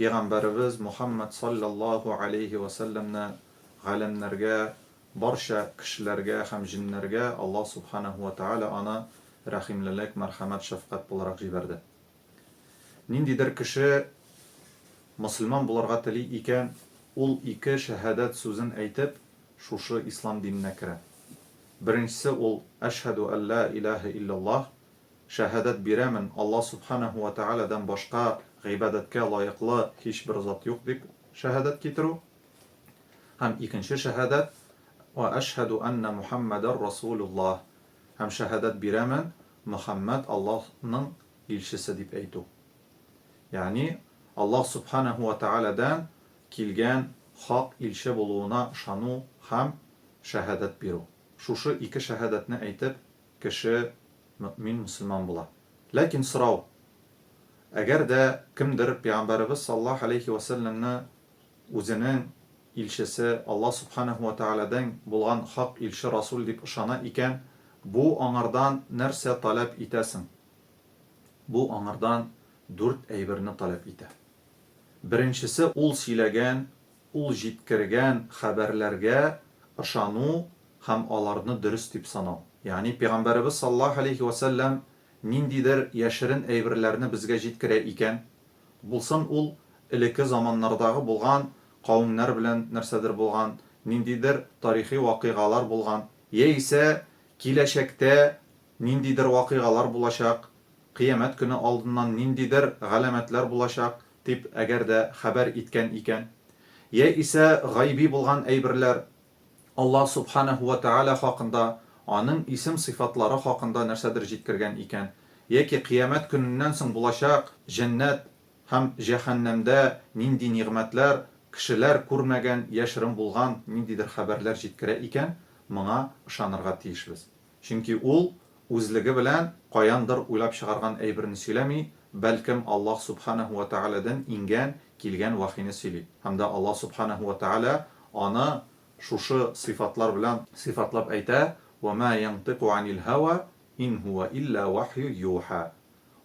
Пигамбәребез Мухаммәд салләллаһу галәйһи вә сәлләмне галәмнәргә, барча кешеләргә һәм җеннәргә Аллаһ Субханаһу вә тәгалә аны рәхимлелек, мәрхәмәт, шәфкать буларак җибәрде. Ниндидер кеше мөселман булырга тели икән, ул ике шәһәдәт сүзен әйтеп, шушы ислам диненә керә. Беренчесе ул, Әшһәдү әллә иләһә илләллаһ, Шәһадәт бирәмен, Алла Сүбхәнәһү вә Тәгаләдән башка гыйбадәткә лаеклы һичбер зат юк, дип шәһадәт китерү. Һәм икенче шәһадәт, Вә әшһәдү әннә Мухәммәдәр Расулуллаһ, һәм шәһадәт бирәмен, Мөхәммәд Аллаһның илчесе, дип әйтү. Ягъни, Аллаһ Сүбхәнәһү вә Тәгаләдән килгән хак илче булуына ышану һәм шәһадәт бирү. Шушы ике шәһадәтне әйтеп, кеше мөэмин, мөселман була. Ләкин сорау, әгәр дә кемдер пәйгамбәребез саллаллаһу галәйһи вә сәлләмне үзенең илчесе, Аллаһ субханаһу вә тәгаләдән булган хак илче, расул дип ышана икән, бу аңардан нәрсә таләп итә соң? Бу аңардан дүрт әйберне таләп итә. Беренчесе, ул сөйләгән Ул җиткергән хәбәрләргә ышану һәм аларны дөрес дип санау. Ягъни Пәйгамбәребез саллаллаһу галәйһи вә сәлләм ниндидер яшерен әйберләрне безгә җиткерә икән, булсын ул элекке заманнардагы булган кавемнәр белән нәрсәдер булган, ниндидер тарихи вакыйгалар булган, яисә киләчәктә ниндидер вакыйгалар булачак, кыямәт көне алдыннан ниндидер галәмәтләр булачак, дип әгәр дә хәбәр иткән икән, йә исә гайби булган әйберләр, Аллаһ Субханәһү вә Тәгалә хакында, Аның исем-сыйфатлары хакында нәрсәдер җиткергән икән, яки Кыямәт көненнән соң булачак җәннәт һәм җәһәннәмдә нинди нигъмәтләр, кешеләр күрмәгән, яшерен булган ниндидер хәбәрләр җиткерә икән, моңа ышанырга тиешбез. Чөнки ул үзлеге белән каяндыр уйлап чыгарган әйберне сөйләми, бәлкем Аллаһ Сүбхәнәһү вә Тәгаләдән иңгән, килгән вәхине сөйли. Һәм дә Аллаһ Сүбхәнәһү вә Тәгалә аны шушы сыйфатлар белән сыйфатлап әйтә, Вә мә йәнтыйку әнил һәва, ин һүә илля вәхйү юхә.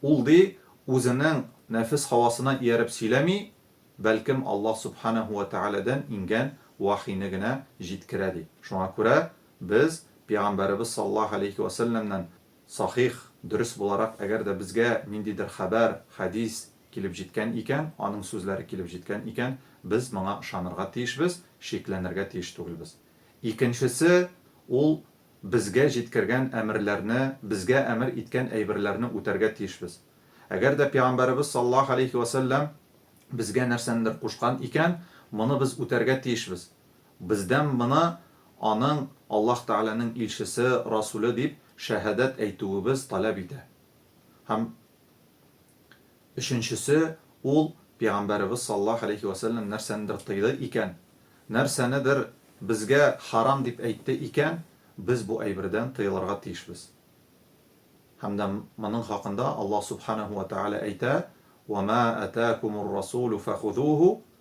Ул, ди, үзенең нәфес һавасына ияреп сөйләми, бәлкем Аллаһ Сүбхәнәһү вә Тәгаләдән иңгән вәхине генә җиткерә, ди. Шуңа күрә Без Пигамбәребез саллаллаһу галәйһи вә сәлләмнән сахих, дөрес буларак, әгәр дә безгә ниндидер хәбәр, хәдис, килеп җиткән икән, аның сүзләре килеп җиткән икән, без моңа ышанырга тиешбез, шикләнергә тиеш түгелбез. Икенчесе, ул безгә җиткергән әмерләрне, безгә әмер иткән әйберләрне үтәргә тиешбез. Әгәр дә Пигамбәребез саллаллаһу галәйһи вә сәлләм безгә нәрсәнедер кушкан икән, моны без үтәргә тиешбез. Бездән мына аның Аллаһ Тәгаләнең илчесе, Расүле дип шәһадәт әйтүебез таләп итә. Һәм өченчесе, ул, Пәйгамбәребез саллаллаһу галәйһи вә сәлләм нәрсәнедер тыйды икән, нәрсәнедер безгә харам дип әйтте икән, без бу әйбердән тыелырга тиешбез. Һәм дә моның хакында Аллаһ Сүбхәнәһү вә Тәгалә әйтә, Вә мә әтәәкумур-расүлү фәхүзүһү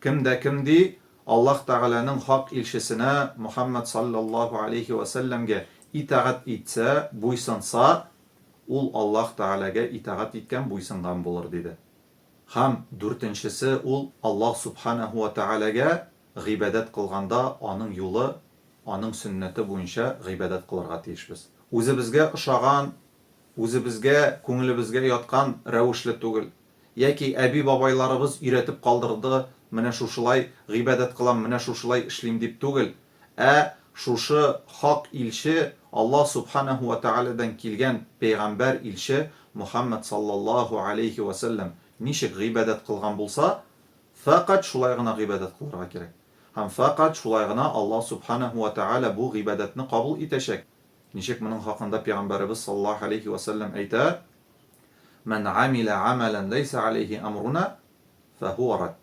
Кем дә кем ди, Аллаһ Тәгаләнең хак илчесенә Мөхәммәд салләллаһу аләйһи вә сәлләмгә итагать итсә, буйсынса, ул Аллаһ Тәгаләгә итагать иткән, буйсынган булыр, диде. Һәм, дүртенчесе, ул Аллаһ Сүбхәнәһү вә Тәгаләгә гыйбадәт кылганда Аның юлы, Аның сөннәте буенча гыйбадәт кылырга тиешбез. Үзебезгә ошаган, үзебезгә, күңелебезгә яткан рәвешле түгел. Яки әби-бабайларыбыз өйрәтеп калдырды, менә шушылай гыйбадәт кылам, менә шушылай эшлим дип түгел, ә шушы хак илче, Аллаһ Сүбхәнәһү вә Тәгаләдән килгән пәйгамбәр илче Мөхәммәд салләллаһү әләйһи вә сәлләм ничек гыйбадәт кылган булса, фәкать шулай гына гыйбадәт кылырга кирәк. Һәм фәкать шулай гына Аллаһ Сүбхәнәһү вә Тәгалә бу гыйбадәтне кабул итәчәк. Ничек моның хакында пигамбәребез саллаллаһу галәйһи вә сәлләм әйтә, Мән гамилә гамәлән ләйсә галәйһи әмруна, фәһуа рад.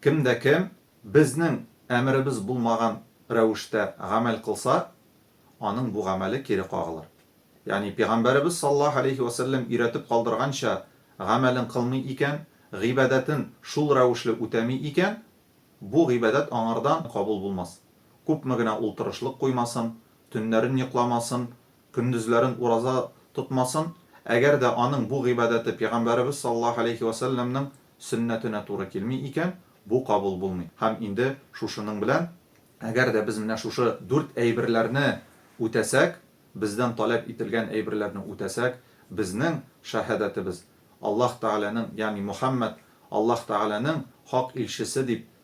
Кем дә кем безнең әмеребез булмаган рәвештә гамәл кылса, аның бу гамәле кире кагылыр. Ягъни пигамбәребез саллаллаһу галәйһи вә сәлләм өйрәтеп калдырганча гамәлен кылмый икән, гыйбадәтен шул рәвешле үтәми икән, бу гыйбадәт аңардан кабул булмас. Күпме генә ул тырышлык куймасын, Төннәрен йокламасын, көндезләрен ураза тотмасын, әгәр дә аның бу гыйбадәте пигамбәребез саллаллаһу галәйһи вә сәлләмнең сөннәтенә туры килми икән, бу кабул булмый. Һәм инде шушының белән, әгәр дә без менә шушы дүрт әйберләрне үтәсәк, бездән таләп ителгән әйберләрне үтәсәк, безнең шәһадәтебез, Аллаһ Тәгаләнең, ягъни Мөхәммәд, Аллаһ Тәгаләнең хак илчесе дип